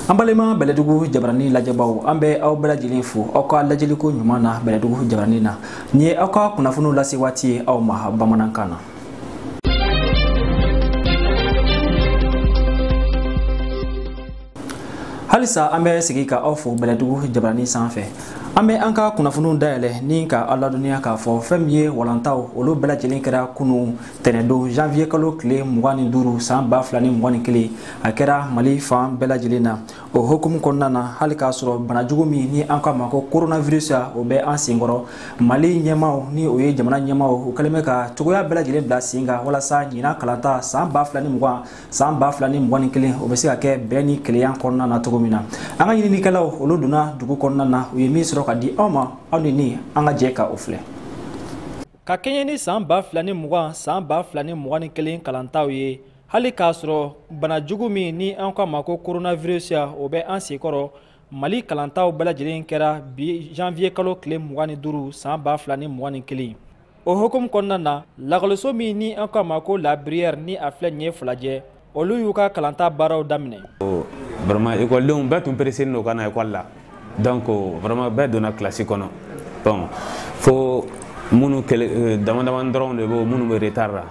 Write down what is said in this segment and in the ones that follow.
an balima bɛlɛdugu jabarani lajɛbaw an bɛ aw bɛɛ lajɛlen fo aw ka lajɛliko ɲuman na bɛlɛdugu jabarani na nin ye aw ka kunnafoniw lase waati ye aw ma bamanankan na halisa an bɛ segin ka aw fo bɛlɛdugu jabarani sanfɛ an bɛ an ka kunnafoniw dayɛlɛ ni ka aw ladɔnniya k'a fɔ fɛn min ye walantaw olu bɛɛ lajɛlen kɛra kunu tɛnɛdon janvier kalo tile mugan ni duuru san ba fila ni mugan ni kelen a kɛra mali fan bɛɛ lajɛlen na o hukumu kɔnɔna na hali k'a sɔrɔ banajugu min ni an k'a ma ko coronavirus ya o bɛ an senkɔrɔ mali ɲɛmaw ni o ye jamana ɲɛmaw u kɛlen bɛ ka cogoya bɛɛ lajɛlen bila sen kan walasa ɲinan kalanta san ba fila ni mugan san ba fila ni mugan ni kelen o bɛ se ka kɛ bɛn ni kelenya kɔnɔna na cogo min na an ka ɲininikɛlaw olu donna dugu kɔnɔna na u ye min sɔrɔ ka di aw ma aw ni ni an ka jɛ ka o filɛ ka kɛɲɛ ni san ba fila ni mugan san ba fila ni mugan ni kelen kalantaw ye hali k'a sɔrɔ banajugu min ni an k'a ma ko coronavirus ya o bɛ an senkɔrɔ mali kalantaw bɛɛ lajɛlen kɛra bi janvier kalo tile mugan ni duuru san ba fila ni mugan ni kelen o hukumu kɔnɔna na lakɔliso min ni an k'a ma ko la bruyère ni a filɛ nin ye filajɛ olu y'u ka kalanta baaraw daminɛ vraiment ekɔlidenw bɛɛ tun pereseni don ka na ekɔli la donc vraiment bɛɛ donna kilasi kɔnɔ bon fo minnu euh, damadamani dɔrɔn de bɛ minnu bɛ retard la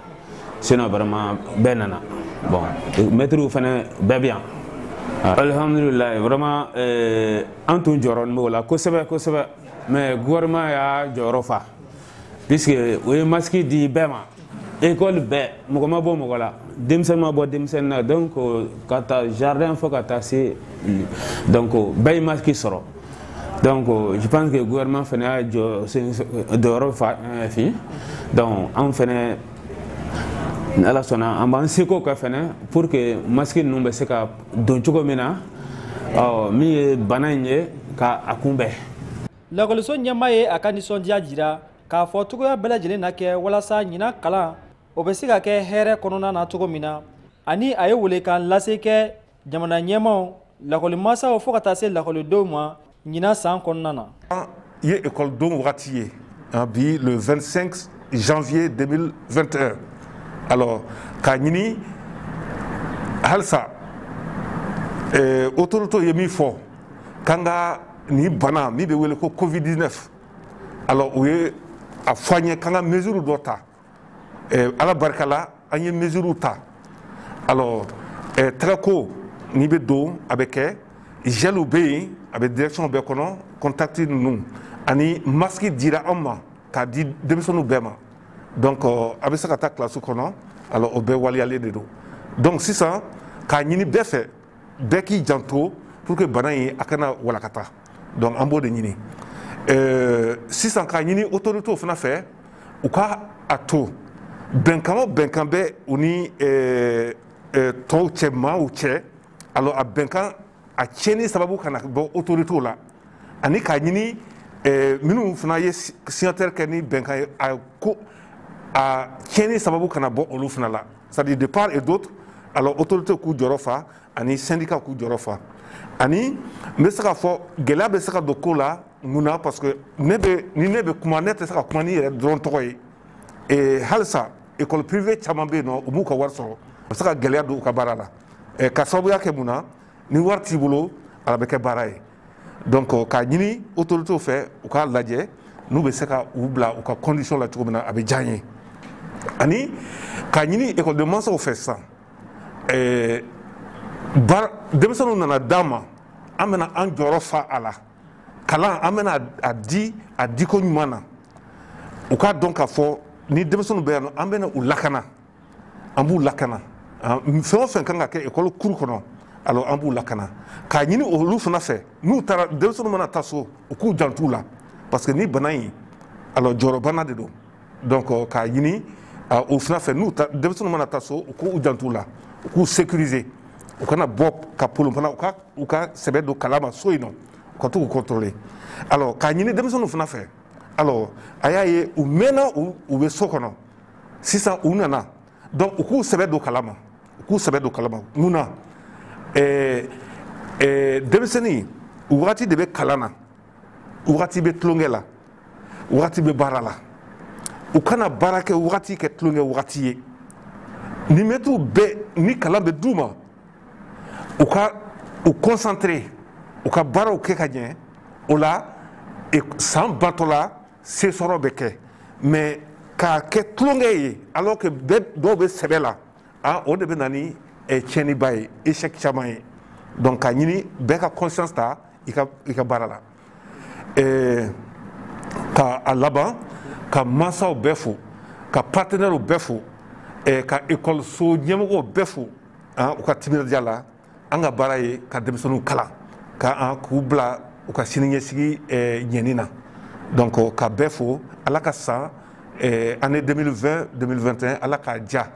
sinon vraiment bɛɛ nana bon mɛtiriw fana bɛɛ bɛ yan alhamdulilayi vraiment euh, an tun jɔrɔnin b'o la kosɛbɛ kosɛbɛ mais gouvernement y'a jɔyɔrɔ fa puisque o ye masque di bɛɛ ma école bɛɛ mɔgɔ ma bɔ mɔgɔ la denmisɛnnin ma bɔ denmisɛnnin na donc ka ta jardin fo ka taa se donc bɛɛ ye masque sɔrɔ donc je pense que gouvernement fana y'a jɔ jɔyɔrɔ fa enfin donc anw fana ni ala sɔnna an b'an seko kɛ fana pour que masque ninnu bɛ se ka don cogo min na min ye bana in ye ka a kunbɛn lakɔliso ɲɛma ye a ka nisɔndiya jira k'a fɔ cogoya bɛɛ lajɛlen na kɛ walasa ɲinan kalan o bɛ se ka kɛ hɛrɛ kɔnɔna na cogo min na ani a ye welekan lase kɛ jamana ɲɛmaw lakɔlimasaw fo ka taa se lakɔlidenw ma ɲinan san kɔnɔna na ye ekɔlidon wagati ye bi le 25 janvier 2021 alors k'a ɲini halisa eh, autoritew ye min fɔ k'an ka nin bana min bɛ wele ko covid 19 alors u ye a fɔ an ye k'an ka mesure dɔ ta eh, ala barika la an ye mesure ta alors eh, tɛgɛko n'i bɛ don a bɛ kɛ gelw bɛ yen a bɛ direction bɛɛ kɔnɔ contact ninnu ani masque dira an ma k'a di denmisɛnninw bɛɛ ma donc euh, a bɛ se ka taa kilasi kɔnɔ alors o bɛɛ waleyalen de don donc sisan k'a ɲini bɛɛ fɛ bɛɛ k'i janto pour que bana in a kana walakata donc an b'o de ɲini euh, sisan k'a ɲini autoritew fana fɛ u ka a to bɛnkan o bɛnkan bɛ u ni euh, euh, tɔw cɛ maaw cɛ alors a bɛnkan a tiɲɛni sababu kana bɔ autoritew la ani k'a ɲini euh, minnu fana ye signataire kɛ ni bɛnkan ye a ko a tiɲɛni sababu kana bɔ olu fana la c'est-à-dire de part et d'autre alors autorité k'u jɔyɔrɔ fa ani syndicat k'u jɔyɔrɔ fa ani n bɛ se k'a fɔ gɛlɛya bɛ se ka don ko la mun na parce que ne bɛ ni ne bɛ kuma ne tɛ se ka kuma ni n yɛrɛ dɔrɔn tɔgɔ ye ee halisa école privée caman bɛ yen nɔ u m'u ka wari sɔrɔ a bɛ se ka gɛlɛya don u ka baara la ka sababuya kɛ mun na ni wari t'i bolo a laban bɛ kɛ baara ye donc euh, k'a ɲini autorités fɛ u k'a lajɛ n'u bɛ se ka u bila u ka condition la cogo min na a bɛ diya n ye ani k'a ɲini ekɔliden mansaw fɛ sisan ɛɛ baara denmisɛnninw nana d'an ma an bɛna an jɔyɔrɔ fa a la kalan an bɛna a di a diko ɲuman na u k'a dɔn k'a fɔ ni denmisɛnninw bɛ yan nɔ an bɛna u lakana an b'u lakana fɛn o fɛn kan ka kɛ ekɔli cour kɔnɔ alors an b'u lakana k'a ɲini olu fana fɛ n'u taara denmisɛnninw mana taa so u k'u jant'u la parce que nin bana in alors jɔrɔbana de don donc euh, k'a ɲini euh, o fana fɛ n'u ta denmisɛnninw mana taa so u k'u jant'u la u k'u sécuriser u kana bɔ ka polon fana u ka u ka sɛbɛ don kalan ma so yen nɔ u ka to k'u contrôler alors k'a ɲini denmisɛnninw fana fɛ alors a y'a ye u mɛnna u u bɛ so kɔnɔ sisan u nana donc u k'u sɛbɛ don kalan ma u k'u sɛbɛ don kalan ma mun na eh, eh, denmisɛnnin wagati de bɛ kalan na wagati bɛ tulonkɛ la wagati bɛ baara la u kana baara kɛ wagati kɛ tulonkɛ wagati ye ni mɛtiriw bɛɛ ni kalan bɛ d'u ma u ka u concentrer u ka baaraw kɛ ka ɲɛ o la e, san bantɔla se sɔrɔ bɛ kɛ mais k'a kɛ tulonkɛ ye alors que dɔw bɛ sɛbɛ la a o de bɛ na ni eh, tiɲɛniba ye échec caman ye donc k'a ɲini bɛɛ ka conscience ta i ka i ka baara la eh, ka a laban ka mansaw bɛɛ fo ka partenaires bɛɛ fo eh, ka ekɔliso ɲɛmɔgɔw bɛɛ fo ah, u ka timinandiya la an ka baara ye ka denmisɛnninw kalan ka k'u bila u ka siniɲɛsigi ɲɛɲini na donc ka bɛɛ fo ala ka san année 2020 2021 ala k'a diya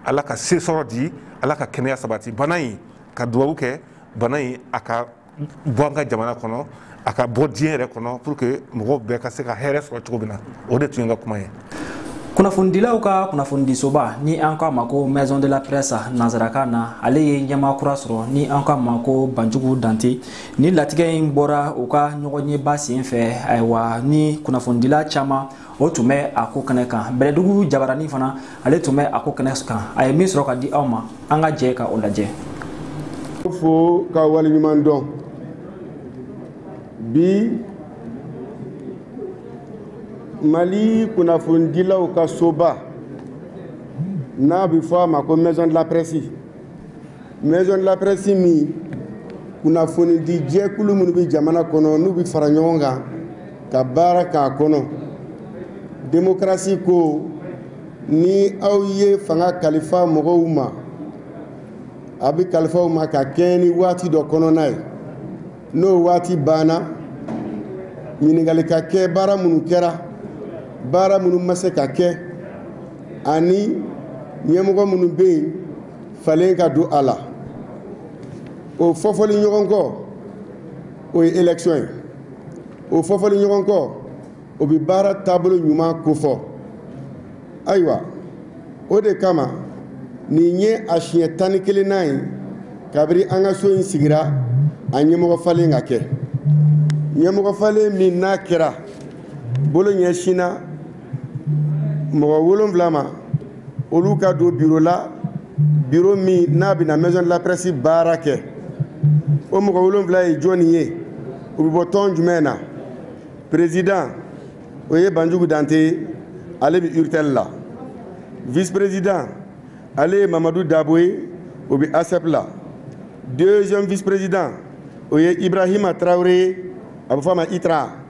ala ka se sɔrɔ di ala ka kɛnɛya sabati bana in ka dubabu kɛ bana in a ka bɔ an ka jamana kɔnɔ a ka bɔ diɲɛ yɛrɛ kɔnɔ pour que mɔgɔw bɛɛ ka se ka hɛrɛ sɔrɔ cogo min na o de tun ye n ka kuma ye kunnafonidilaw ka kunnafonidisoba ni an k'a ma ko maison de la presse nansarakan na ale ye ɲɛmaa kura sɔrɔ ni an k'a ma ko banjugu dante ni latigɛ in bɔra u ka ɲɔgɔnyeba sen fɛ ayiwa ni kunnafonidila caman o tun bɛ a ko kɛnɛ kan bɛlɛdugu jabarani fana ale tun bɛ a ko kɛnɛ kan a ye min sɔrɔ ka di aw ma an ka jɛ ka o lajɛ fo ka waleɲuman dɔn bi mali kunnafonidilaw ka soba n'a bɛ fɔ a ma ko maison de la presse maison de la presse min kunnafonidi jɛkulu minnu bɛ jamana kɔnɔ n'u bɛ fara ɲɔgɔn kan ka baara k'a kɔnɔ demokarasi ko ni aw ye fanga kalifa mɔgɔw ma a bɛ kalifa u ma ka kɛɲɛ ni waati dɔ kɔnɔna ye n'o waati banna ɲininkali ka kɛ baara minnu kɛra baara minnu ma se ka kɛ ani ɲɛmɔgɔ minnu bɛ yen falen ka don a la o fɔfɔli ɲɔgɔn kɔ o ye élection ye o fɔfɔli ɲɔgɔn kɔ o bɛ baara taabolo ɲuman kofɔ ayiwa o de kama nin ye a siɲɛ tan ni kelennan ye kabiri an ka so in sigira a ɲɛmɔgɔ falen ka kɛ ɲɛmɔgɔ falen min n'a kɛra bolo ɲɛsinna mɔgɔ wolonwula ma olu ka don biro la biro min n'a bɛna maison de la presse baara kɛ o mɔgɔ wolonwula ye jɔni ye u bɛ bɔ tɔn jumɛn na président o ye banjugu dante ye ale bɛ urtel la vice président ale ye mamadu dabo ye o bɛ asep la deuxième vice président o ye ibrahima tarawele ye a bɛ fɔ a ma itra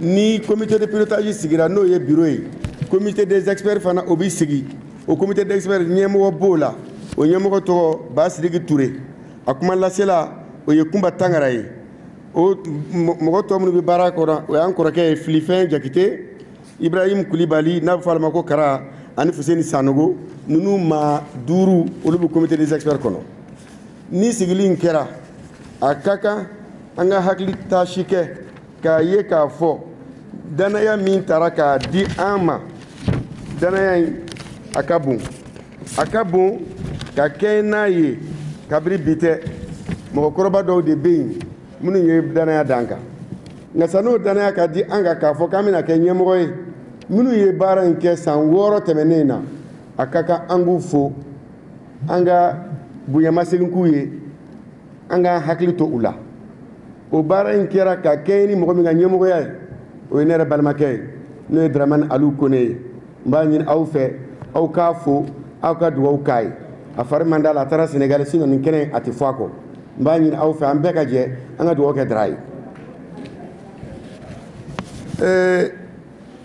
ni comité de pilotage sigira n'o ye biro ye comité des experts fana o bɛ sigi o comité des experts ɲɛmɔgɔ b'o la o ɲɛmɔgɔ tɔgɔ basidiki ture a kuma lasela o ye kunba tangara ye o mɔgɔ tɔ minnu bɛ baara kɔnɔ o y'an kɔrɔkɛ ye filifɛn jakite ibrahim kulibali n'a bɛ fɔ ale ma ko kara ani fuseni sanogo ninnu maa duuru olu bɛ comité des experts kɔnɔ ni sigili in kɛra a ka kan an ka hakili taasi kɛ k'a ye k'a fɔ danaya min tara k'a di an ma danaya in a ka bon a ka bon ka kɛɲɛ n'a ye kabiri bi tɛ mɔgɔkɔrɔba dɔw de bɛ yen minnu ye danaya d'an kan nka san'o danaya ka di an kan k'a fɔ k'an bɛna kɛ ɲɛmɔgɔ ye minnu ye baara in kɛ san wɔɔrɔ tɛmɛnen na a ka kan an k'u fo an ka bonyamasegin k'u ye an k'an hakili to u la o baara in kɛra ka kɛɲɛ ni mɔgɔ min ka ɲɛmɔgɔya ye o ye ne yɛrɛ balimakɛ ye n'o ye daramani alu kone ye n b'a ɲini aw fɛ aw k'a fo aw ka dugawu k'a ye a fari man d'a la a taara senegali sinon nin kɛnɛ a tɛ fɔ a kɔ n b'a ɲini aw fɛ an bɛɛ ka jɛ an ka dugawu kɛ dara ye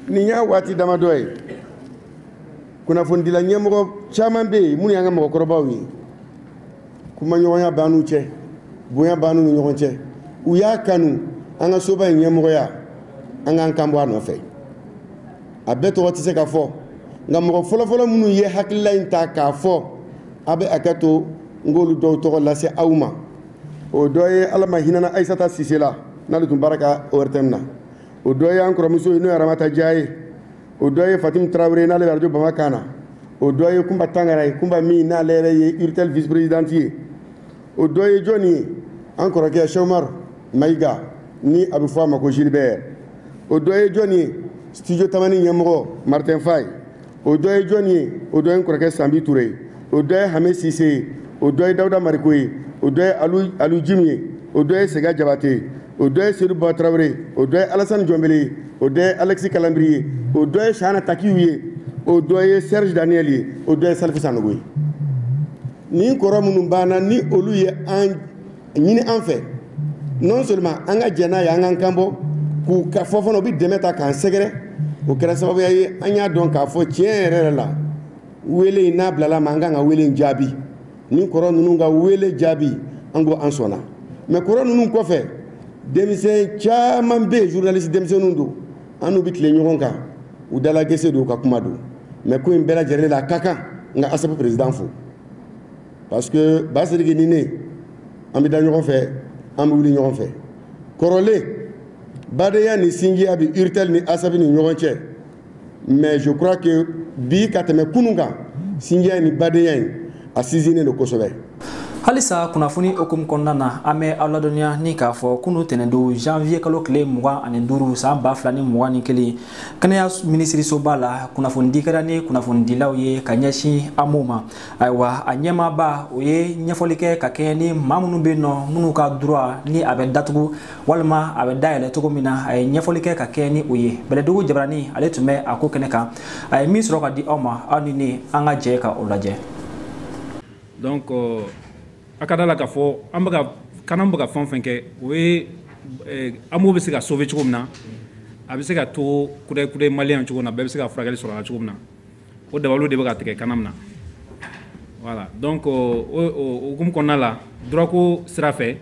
nin y'a waati damadɔ ye kunnafonidila ɲɛmɔgɔ caman bɛ yen minnu y'an ka mɔgɔkɔrɔbaw ye kumaɲɔgɔnya b'an n'u cɛ bonya b'an n'u ni ɲɔgɔn cɛ u y'a kanu an ka soba in ɲɛmɔgɔya an k'an kan bɔ a nɔfɛ a bɛɛ tɔgɔ tɛ se ka fɔ nka mɔgɔ fɔlɔfɔlɔ minnu ye hakilila in ta k'a fɔ a bɛ hakɛ to n k'olu dɔw tɔgɔ lase aw ma o dɔ ye ala ma hinɛna ayisata sise la n'ale tun baara kɛ ORTM na o dɔ ye an kɔrɔmuso ye n'o ye aramata ja ye o dɔ ye fatimu tarawele ye n'ale bɛ arajo bamakan na o dɔ ye kunba tangara ye kunba min n'ale yɛrɛ ye urtel vice présidente ye o dɔ ye jɔni ye an kɔrɔkɛ shɛki umar mayiga ni a bɛ fɔ a ma ko gilbert o dɔ ye jɔni ye studio tamani ɲɛmɔgɔ martin faye o dɔ ye jɔni ye o dɔ ye n kɔrɔkɛ sanbi ture ye o dɔ ye hame sise ye o dɔ ye dawuda mariko ye o dɔ ye alu jimu ye o dɔ ye sega jabate ye o dɔ ye sedu ba tarawele ye o dɔ ye alasani jɔnbele ye o dɔ ye alɛkisi kalanbiri ye o dɔ ye shana takiw ye o dɔ ye serge daniel ye o dɔ ye salifu sanogo ye nin kɔrɔ minnu banna ni olu ye a ɲini an fɛ non seulement an ka jɛn n'a ye an k'an kanbɔ k'u ka fɔ fana u bɛ dɛmɛ ta k'an sɛgɛrɛ o kɛra sababuya ye an y'a dɔn k'a fɔ tiɲɛ yɛrɛ yɛrɛ la wele in n'a bilala an ma an kan ka wele in jaabi nin kɔrɔ ninnu ka wele jaabi an ko an sɔnna mais kɔrɔ ninnu kɔfɛ denmisɛn caman bɛ yen journaliste denmisɛnninw don an n'u bɛ tile ɲɔgɔn kan u dalagese don u ka kuma don mais ko in bɛɛ lajɛlen la a ka kan n ka ASSEP président fo parce que Basidiki ni ne an bɛ da ɲɔgɔn fɛ an bɛ wuli ɲɔgɔn fɛ kɔrɔlen badenya ni sinjiya bɛ Urtel ni ASSEP ni ɲɔgɔn cɛ mais je crois que bi ka tɛmɛ kunun kan sinjiya ni badenya in a sinsinnen don kosɛbɛ. halisa kunnafoni hukumu kɔnɔna na an bɛ aw ladɔnniya ni k'a fɔ kunun tɛnɛndon janvier kalo tile mugan ani duuru san ba fila ni mugan ni kelen kɛnɛya minisirisoba la kunnafonidi kɛra ni kunnafonidilaw ye ka ɲɛsin AMO ma ayiwa a ɲɛmaaba o ye ɲɛfɔli kɛ ka kɛɲɛ ni maa minnu bɛ yen nɔ minnu ka droit ni a bɛ datugu walima a bɛ dayɛlɛ cogo min na a ye ɲɛfɔli kɛ ka kɛɲɛ ni o ye bɛlɛdugu jabarani ale tun bɛ a ko kɛnɛ kan a ye min sɔrɔ ka di aw ma aw ni ne an ka jɛ ka o lajɛ donc euh, a ka da la k'a fɔ an bɛ ka CANAM bɛ ka fɛn o fɛn kɛ o ye eh, AMO bɛ se ka sauver cogo min na a bɛ se ka to kudɛkudɛ maliyɛn cogo min na bɛɛ bɛ se ka furakɛli sɔrɔ a la cogo min na o dalu de bɛ ka tigɛ kana na wala dɔn ko okumu kɔnɔna la duko sira fɛ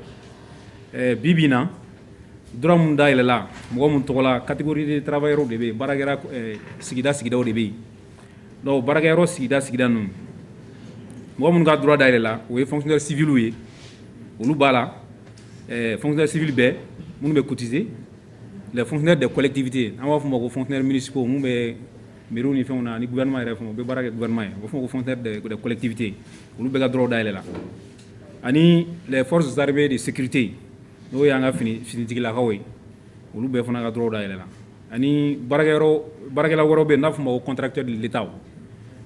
bi bɛ na dɔrɔnmu da yɛlɛla mɔgɔ min tɔgɔ la katigikururi tarawelela yɔrɔ de bɛ bara sigida sigida de bɛ yen dɔw baarakɛ yɔrɔ sigida sigida ninnu mɔgɔ minnu ka dug da yɛlɛla o ye fɛnkkɛ sifiw ye olu b'a la fɛnkɛ sibi bɛɛ minnu bɛ kutese fkɛ de kɔlɛtibite an b'a f fɔ ma ko fkɛ minisiw minnu bɛ Miw ni fɛnw na ni gma yɛrɛ fana u bɛ baara kɛ gma ye o fɔ kotɛtibite olu bɛ ka dɔrɔn da yɛlɛ la ani zsaribe de sete n'o y'an ka fini finitigilakaw ye olu bɛɛ fana ka dɔrɔn da yɛlɛ la ani baarakɛla wɛrɛ bɛ n'a fɔ ma o kɔntratɛlita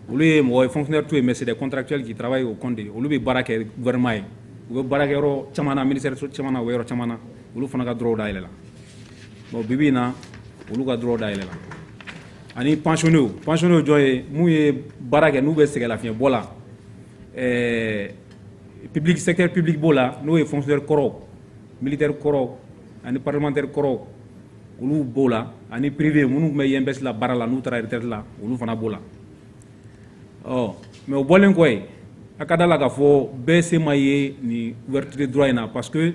olu ye mɔgɔ fɛnɛ to yen mɛ se kɔntratɛli taraweleraba ye oo kɔnte olu bɛ baara kɛ gma ye u bɛ baarakɛ caman miniri caman yɔrɔ caman olu fana ka dɔrɔn da yɛlɛ la bon bibi in na olu ka droit dayɛlɛla ani pensionnew pensionnew jɔn ye mun ye baara kɛ n'u bɛ sɛgɛnlafiɲɛbɔ la ɛɛ public secteur public b'o la n'o ye fonctionnaire kɔrɔw militaire kɔrɔw ani parlementaire kɔrɔw olu b'o la ani privé minnu tun bɛ INPS la baara la n'u taara retraite la olu fana b'o la ɔ mais o bɔlen kɔ yen a ka da la k'a fɔ bɛɛ se ma ye nin ouverture de droit in na parce que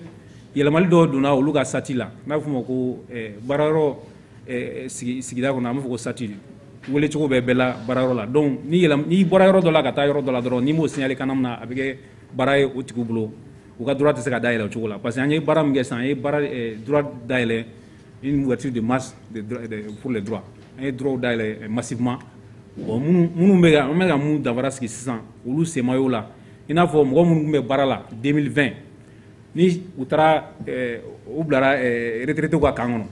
yɛlɛmali dɔw donna olu ka sati la n'a f'o ma ko eh, baarayɔrɔ eh, sigida kɔnɔ an b'a fɔ ko sati wele cogo bɛɛ bɛɛ la baarayɔrɔ la donc ni yɛlɛm n'i bɔra yɔrɔ dɔ la ka taa yɔrɔ dɔ la dɔrɔn n'i m'o signalé CANAM na a bɛ kɛ baara ye o tigiw bolo u ka droit tɛ se ka dayɛlɛ o cogo la parce que an ye baara min kɛ sisan an ye baara eh, droit dayɛlɛ une ouverture de masse de, de, pour les droits an ye droits dayɛlɛ eh, massivement bon minnu minnu bɛ ka an bɛ ka mun danfara sigi sisan olu sen ma y'o la i n'a fɔ mɔgɔ minnu tun bɛ baara la 2020 ni u taara u bilararete ka kan kɔnɔ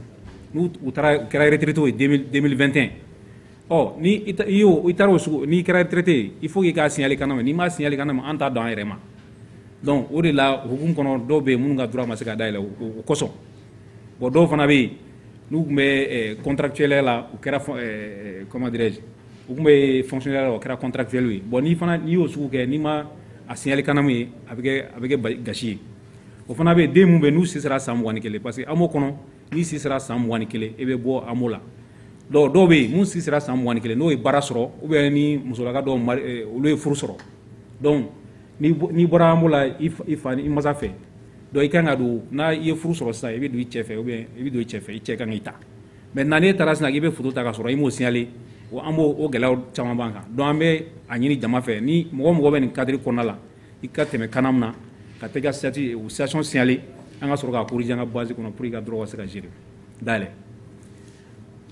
u kɛrarete ye den2te ɔ i taara o sogo n'i kɛrarete i fo y'i ka siɲɛli kana ma n'i ma siɲɛli kana ma an ta dɔn an yɛrɛ ma dɔnku o de la hk kɔnɔ dɔw bɛ yen minnu ka tura ma se ka dayɛlɛn o kosɔn bon dɔw fana bɛ yen n'u tun bɛ kɔntancɛ la u kɛra kɔnmadi u tun bɛ fonctionnaire la o kɛra contractuel ye bon n'i fana n'i y'o sugu kɛ n'i ma a signaler CANAM ye a bɛ kɛ a bɛ kɛ gasi ye o fana bɛ den mun bɛ n'u si sera san mugan ni kelen parce que AMO kɔnɔ n'i si sera san mugan ni kelen i bɛ bɔ AMO la donc dɔw bɛ yen mun si sera san mugan ni kelen n'o ye baara sɔrɔ ou bien ni musolaka dɔw mari eh, olu ye furu sɔrɔ donc n'i n'i bɔra AMO la i fa i fa i masa fɛ donc i kan ka don n'a i ye furu sɔrɔ sisan i bɛ don i cɛ fɛ ou bien i bɛ don i cɛ fɛ i cɛ kan k'i ta mɛ naani e taara sin i bɛ furu ta ka sɔrɔ i mɔsili wa an b'o o gɛlɛya caman ban kan dɔn an bɛ a ɲini jama fɛ ni mɔgɔ mɔgɔ bɛ nin kari kɔnɔna la i ka tɛmɛ kan min na ka tɛ ka sati u sasɔn siyalen an ka sɔrɔ ka kurujan an ka basi kɔnɔ pur ka dɔrɔn ka se ka jiri dayɛlɛ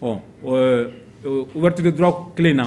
ɔ wɛrɛtiri dɔrɔn kelen na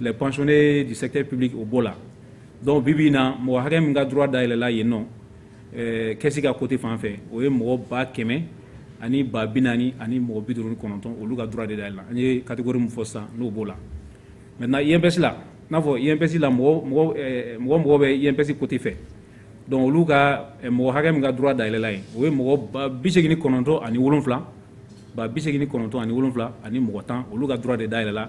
les pensionnés du secteur public o b'o la donc bi bi in na mɔgɔ hakɛ min ka droit dayɛlɛla yen nɔ eh, caisse ka côté fan fɛ o ye mɔgɔ ba kɛmɛ ani ba bi naani ani mɔgɔ bi duuru ni kɔnɔntɔn olu ka droit de dayɛlɛla an ye catégorie min fɔ sisan n'o b'o la maintenant INPS la n'a fɔ INPS la mɔgɔ mɔgɔ eh, mɔgɔ mɔgɔ bɛ INPS côté fɛ donc olu ka eh, mɔgɔ hakɛ min ka droit dayɛlɛla yen o ye mɔgɔ ba bi segin ni kɔnɔntɔn ani wolonfila ba bi segin ni kɔnɔntɔn ani wolonfila ani mɔgɔ tan olu ka droit de dayɛlɛla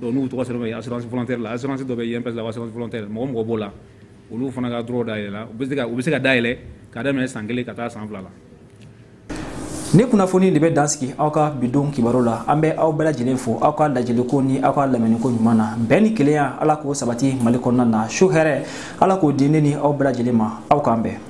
Donc n'u tɔgɔ sɛbɛn assurance volontaire la assurance dɔ bɛ yen INPS la ko assurance volontaire mɔgɔ o mɔgɔ b'o la olu fana ka droit dayɛlɛla u bɛ se ka dayɛlɛ ka daminɛ san kelen ka taa san fila la. Ni kunnafoni de bɛ dan sigi aw ka bi don kibaru la an bɛ aw bɛɛ lajɛlen fo aw ka lajɛliko ni aw ka lamɛniko ɲuman na bɛn ni kelenya ala k'o sabati mali kɔnɔna na su hɛrɛ ala k'o di ne ni aw bɛɛ lajɛlen ma aw k'an bɛn